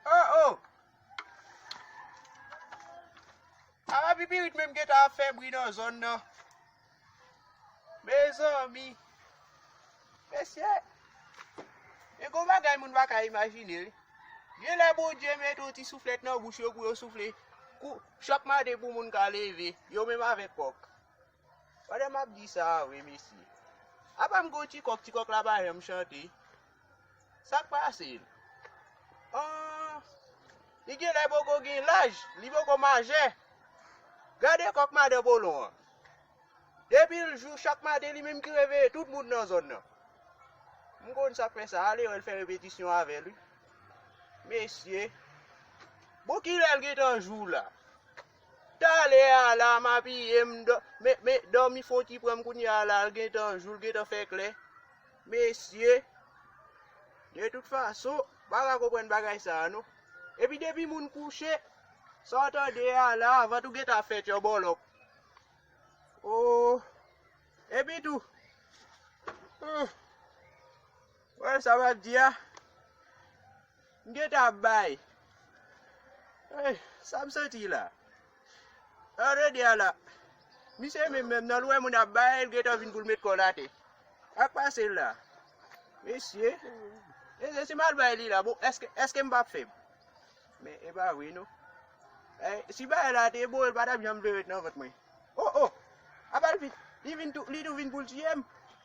Oh oh! Ala pipirit menm gen tan ap fè bri nan zòn nan. Mezanmi! Mesye! Men gon bagay moun pa ka imajine wi. Gen lè Bondye met yon ti souflèt nan bouch yo pou yo soufle kou chak maten pou moun ka leve, yo menm avèk kòk. Pandan map di sa a vre mesye. Apam gen yon ti kòk, ti kòk la pa janm chante. Sak pase l? Ahh! Li genlè poko gen laj, li poko majè. Gade kòk madan Polon an. Depi l jou chak maten li menm ki reveye tout moun nan zòn nan. M konn sak fè sa, ale wè l fè repetisyon avè l wi. Mesye! Bon kilè l gentan jou la? Talè a la m abiye m men dòmi fon ti pran m kounye a la l gentan jou l gentan fè klè mesye de tout fason m pa ka konprann bagay sa a non epi depi moun kouche sa w tande a la a vant ou gentan fè tyòbòlòk oo epi tou ooh wè sa m ap di a. M gentan ap bay Hey sa m santi la An tande a la Misye menm menm nan l wè moun ap bay l gentan vin pou l met kò l atè Sak pase la Mesye Mesye si m al bay li la bon èske èske m pap fèb Men e pa vre non Hey si bagay la te bon l pa tap janm vle ret nan vant mwen Oh oh Apa l vin Li vin tou li tou vin pou l tiye m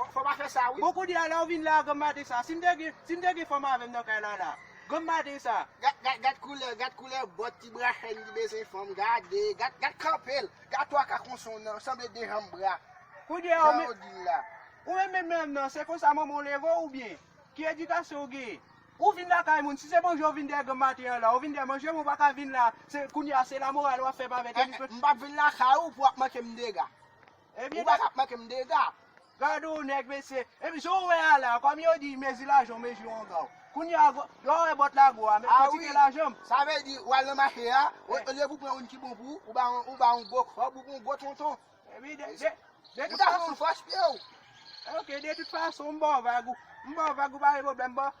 Fò pa fè sa wi. Bon kounye a la ou vin la a granm maten sa si m te gen si m te gen fanm avè m nan kay la la granm maten sa. Gad gad koulè gad koulè bòt ti bra chèn li bezwen fanm gade gad gad kanpe l gad twa ka konson nan sanble 2 janm bra Kounye a ou men jan ou di l la. Ou menm menm menm nan se konsa manman w leve w ou byen ki edikasyon ou genyen ou vin lakay moun si se manje ou vin dèyè granm maten an la ou vin dèyè manje moun ou pa ka vin la se kounye a se la moral w ap fè m avè tenis mwen. M pap vin lakay ou pou w ap manke m dega. Ou pa ka manke m dega. Gad yon nèg mesye. Epi jan w wè a la, kòm yo di mezi lajan w mezi wonga w. Kounye a, lè w wè bòt la gwo a, men kantite lajan m. Sa vle di, w al nan mache a, olye pou w pran youn ki bon pou ou, ou ba yon gwo kòb, ou pran yon gwo tonton. Epi de, de, de tout fason. Ou ta pran yon fòs pye w. Ok, de tout fason, m ba w vag ou. M ba w vag ou pa gen pwoblèm. Bon,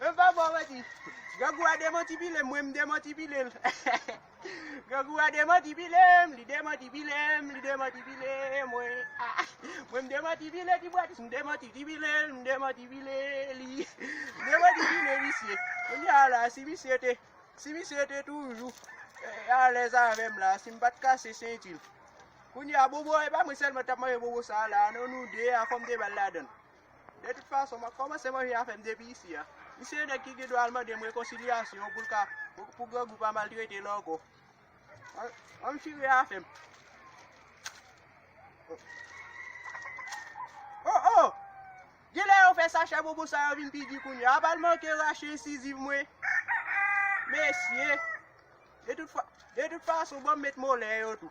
Mwen pa bò manti. Grangou a demanti pile m, mwen m demanti pile l. Grangou a demanti pile m, li demanti pile m, li demanti pile mwen. Mwen m demanti pile ti bwatis, m demanti ti pile l, m demanti pile li. M demanti pile misye. Kounye a la, si misye te, si misye te toujou alèz avè m la, si m pa t kase senti l. Kounye a bobo, e pa mwen sèlman t ap manje bobo sa a la, non nou de a fò m te ba l ladan l. De tout fason, m ap kòmanse manje afè m depi isi a. Misye yon nèg ki gen dwa al mande m rekonsilyasyon pou l ka, pou grangou pa maltrete l ankò. An m chire afè m. O, o! Gen lè yo fè sachè bonbon sa yo vin pi di kounye a. A pa l manke rache ensiziv mwen. Mesye! De tout fason, ban m met molè yo tou.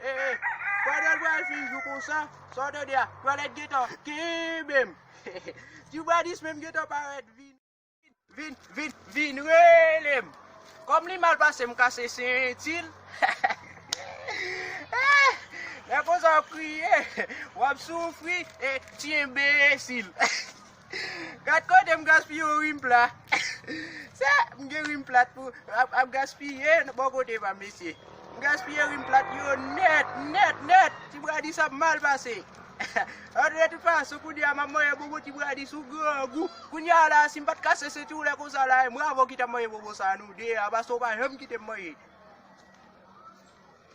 Eh eh Fadel pral fin jou konsa, sa w tande a, twalèt gentan kenbe m. Tubadis menm gentan parèt vin vin vin vin rele m. Kòm li mal pase m kase senti l. Eh Lè konsa w ap kriye, w ap soufri e ti enbesil. Gad kote m gaspiye yon rim plat. Sa, m gen rim plat pou ap gaspiye bò kote pa m mesye. M gaspiye rim plat yo nèt, nèt, nèt. Ti Bradis ap mal pase. An de tout fason, kounye a m ap manje bonbon Ti Bradis sou grangou. Kounye a la a, si m pa t kase senti w lè konsa la a, e m ravò ki t ap manje bonbon sa a nou de a, paske w pa janm kite m manje.